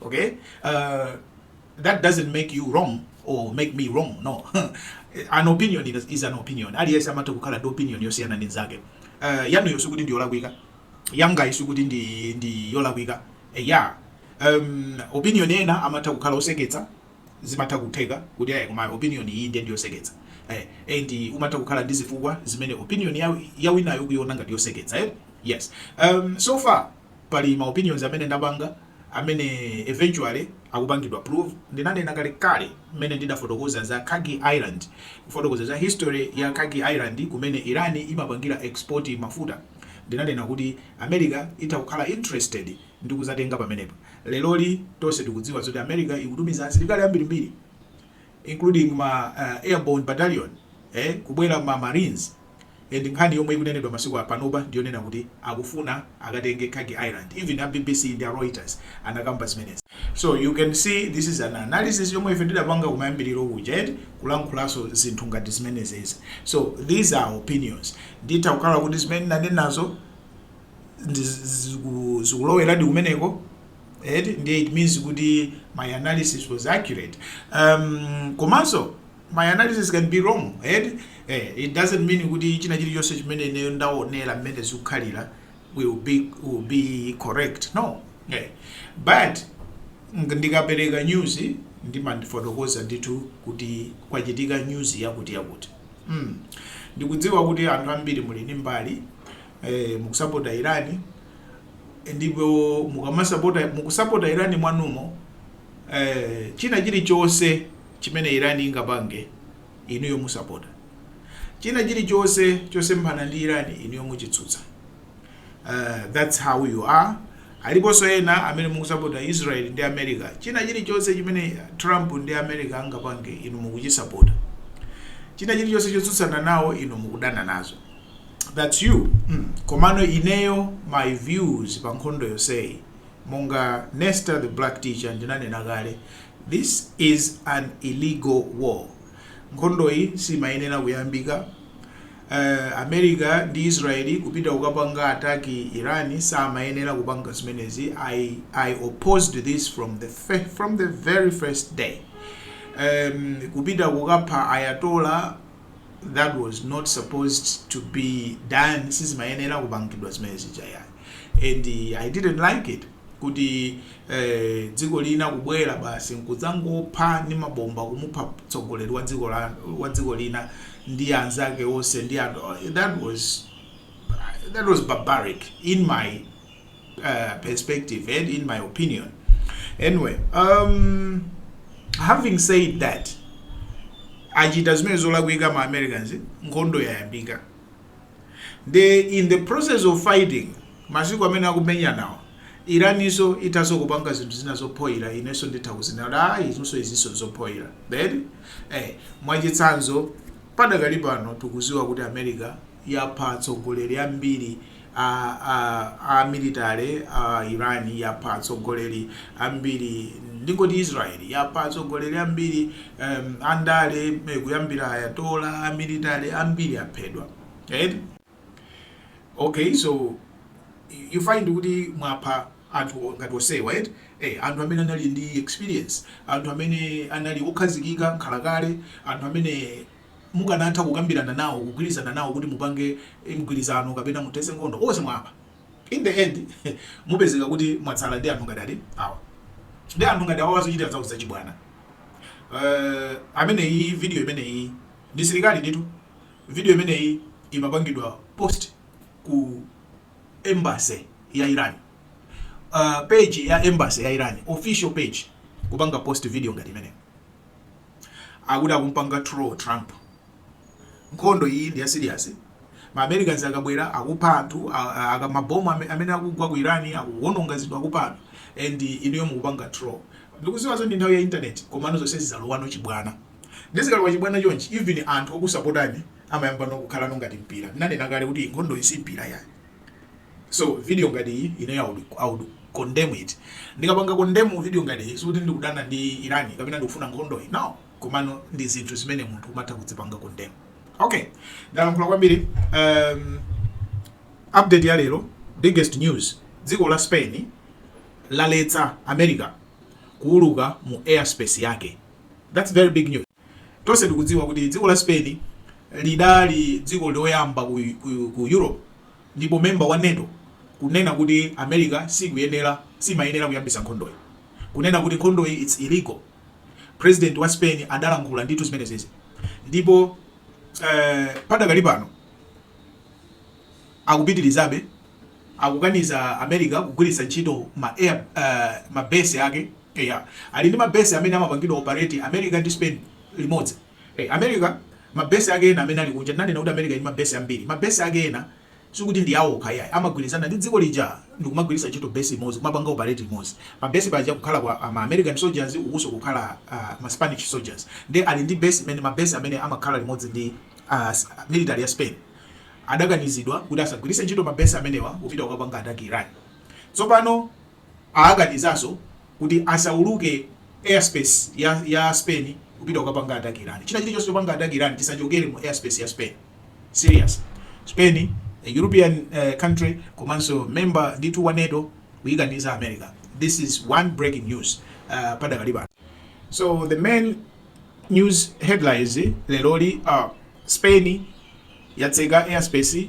okay uh, that doesn't make you wrong or make me wrong no an opinion is an opinion aliyense amatha kukhala ndi opinion yosiyana ndi nzake uh, yanuyo sikuti ndi yolakwika yangayi sikuti ndi, ndi yolakwika eh, ya um, opinion ena amatha kukhala oseketsa zimatha kutheka kuti ayi ma opinion iyi ndiye ndiyoseketsa eh, and umatha kukhala ndi zifukwa zimene opinion ya, ya winayo kuyiona ngati yoseketsa eh? yes um, so far Pali ma opinions amene ndapanga amene eventually akupangidwa prove. Ndinanena kalekale mmene ndidafotokoza za Kharg Island, kufotokoza za history ya Kharg Island kumene Iran imapangira export mafuta, ndinanena kuti America itha kukhala interested ndi kuzatenga pamenepo. Leroli tonse tikudziwa zoti America ikutumiza asilikali ambirimbiri including ma airborne battalion ee kubwera ma marines and nkhani yomwe ikunenedwa masiku a panopa ndiyonena kuti akufuna akatenge kharg island even a bbc ndi a reuters anakamba zimenezi. So you can see this is an analysis yomwe ife ndidapanga kumayambiriro kuja eti kulankhulaso zinthu ngati zimenezezi so these are opinions nditha kukhala kuti zimene nanenazo zikuloweradi kumeneko. eti ndiye it means kuti my analysis was accurate um, komanso my analysis can be wrong eti eh, it doesn't mean kuti china chilichonse chimene ineyo ndaonera mmene zikukhalira will be, will be correct no eh. but ng- ndikapereka news ndimandifotokoza ndithu kuti kwachitika news yakuti yakuti mm. ndikudziwa kuti anthu ambiri muli ndi mbali ee mukusapota iran ndipo mukusapota iran mwanumo ee china chilichonse chimene iran ingapange inuyo musapota china chilichonse chosemphana ndi iran inuyo muchitsutsa uh, that's how you are aliponso ena amene mukusapota israel ndi america china chilichonse chimene trump ndi america angapange inu mukuchisapota china chilichonse chotsutsana nawo inu mukudana nazo that's you mm. komano ineyo my views pa nkhondo yoseyi monga nesta the black teacher ndinanena kale this is an illegal war nkhondoyi simayenera kuyambika uh, america ndi israeli kupita kukapanga ataki iran samayenera kupanga zimenezi I, i opposed this from the, from the very first day um, kupita kukapha ayatola that was not supposed to be done sizimayenera kupangidwa zimene zija ayi and uh, i didn't like it kuti eh, dziko lina kubwera basi nkudzangopha ndi mabomba kumupha mtsogoleri wa dziko la- wa dziko lina ndi anzake onse ndi that was that was barbaric in my uh, perspective and in my opinion anyway um, having said that achita zimene zolakwika ma americans nkhondo yayambika ndiye in the process of fighting masiku amene akumenyanawo Iraniso ithaso kupanga zinthu zina zophoyira ineso nditha kuzinena kuti izinso izinso zophoyira then eh, mwachitsanzo padakali pano tikuziwa kuti america yapha atsogoleri ambiri a a a military a iran yapha atsogoleri ambiri ndingoti israel yapha atsogoleri ambiri um, andale eh, kuyambira Ayatollah a military ambiri aphedwa right? okay so you find kuti mwapha anthu ngati onsewa right? eh, anthu amene anali ndi experience anthu amene anali okhazikika nkhalakale anthu amene mukanatha kukambirana nawo kugwirizana nawo kuti mupange mgwirizano kapena muthese nkhondo onse mwawapha in the end mupezeka kuti mwatsala ndi anthu ngati awa ndi anthu ngati awa omazachita zazachibwana uh, ameneyi video imeneyi ndili sirikali nditu video imeneyi imapangidwa post ku embassy ya Iran uh, page ya embassy ya Iran official page kupanga post video ngati imeneyi Akuti akumpanga troll Trump. Nkhondo iyi ndi ya serious. Ma Americans akabwera akupha anthu, aka ma bomb amene akugwa ku Iran akuwononga zinthu akupha anthu and inuyo mukupanga troll. Ndikuziwa kuti ndi nthawi ya internet komano zonse zizalowano chibwana. Ndiye zikalowa chibwana chonchi even anthu okusapotani amayambano kukhalano ngati mpira. Ndanena kale kuti nkhondoyi si mpira yayi. so video ngati iyi ineyo I would, I would condemn it ndikapanga condemn video ngati iyi sikuti ndikudana ndi Iran kapena ndikufuna nkhondoyi no komano ndi zinthu zimene munthu umatha kuzipanga condemn okay ndalankhula kwambiri um, update ya lero biggest news dziko la spain laletsa america kuuluka mu airspace yake that's very big news Tonse tikudziwa kuti dziko la Spain lidali dziko loyamba ku ku Europe ndipo member wa NATO kunena kuti America sikuyenera simayenera kuyambisa nkhondoyi kunena kuti nkhondoyi it's illegal president wa Spain adalankhula ndithu zimenezezi ndipo eh, padakali pano akupitirizabe akukaniza America kugwiritsa ntchito ma air uh, ma base yake Eya. Ali ndi mabesi amene amapangidwa opareti America ndi Spain limodzi. America, mabesi ake ena amene ali kunja, tinanena kuti America ili ndi mabesi ambiri. Mabesi ake ena sikuti ndi awo okha iyayi, amagwirizana ndi dziko lija ndi kumagwiritsa ntchito besi imodzi, kumapanga opareti limodzi. Pabesi paja kukhalapo a, ma American soldiers, ukunso kukhala a, ma Spanish soldiers. Ndiye ali ndi besi imene, mabesi amene amakhala limodzi ndi a, military ya Spain. Akanizidwa kuti asagwiritse ntchito mabesi amenewa kupita kukapanga attack Iran. Tsopano. Aakanizaso kuti asauluke airspace ya ya spain kupita kukapanga attack iran. China chilichonse chopanga attack iran chisachokere mu airspace ya spain. Serious. Spain a European country komanso member ndithu wa nato kuikaniza america this is one breaking news padakali pano. So the main news headlines lero ndi a spain. yatseka airspace,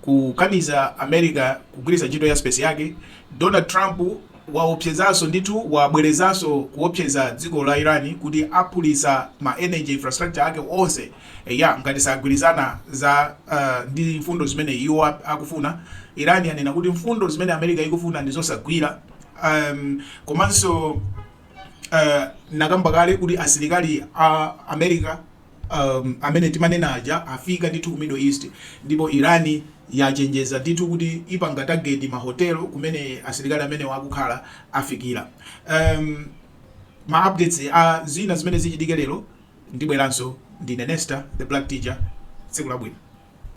kukaniza America kugwiritsa ntchito airspace yake, Donald Trump waopsezanso ndithu wabwerezanso kuopseza dziko la Iran kuti aphulitsa ma energy infrastructure ake onse, eya ngati sagwirizana za uh, ndi mfundo zimene iwo akufuna. Iran yanena kuti mfundo zimene America ikufuna ndi zosagwira um, komanso uh, nakamba kale kuti asilikali a America amene timanena aja afika ndithu ku middle east ndipo Iran yachenjeza ndithu kuti ipanga target mahotelo kumene asilikali amenewa akukhala afikira um, ma updates a zina zimene zichitike lero ndibweranso ndine Nesta the black teacher tsiku labwino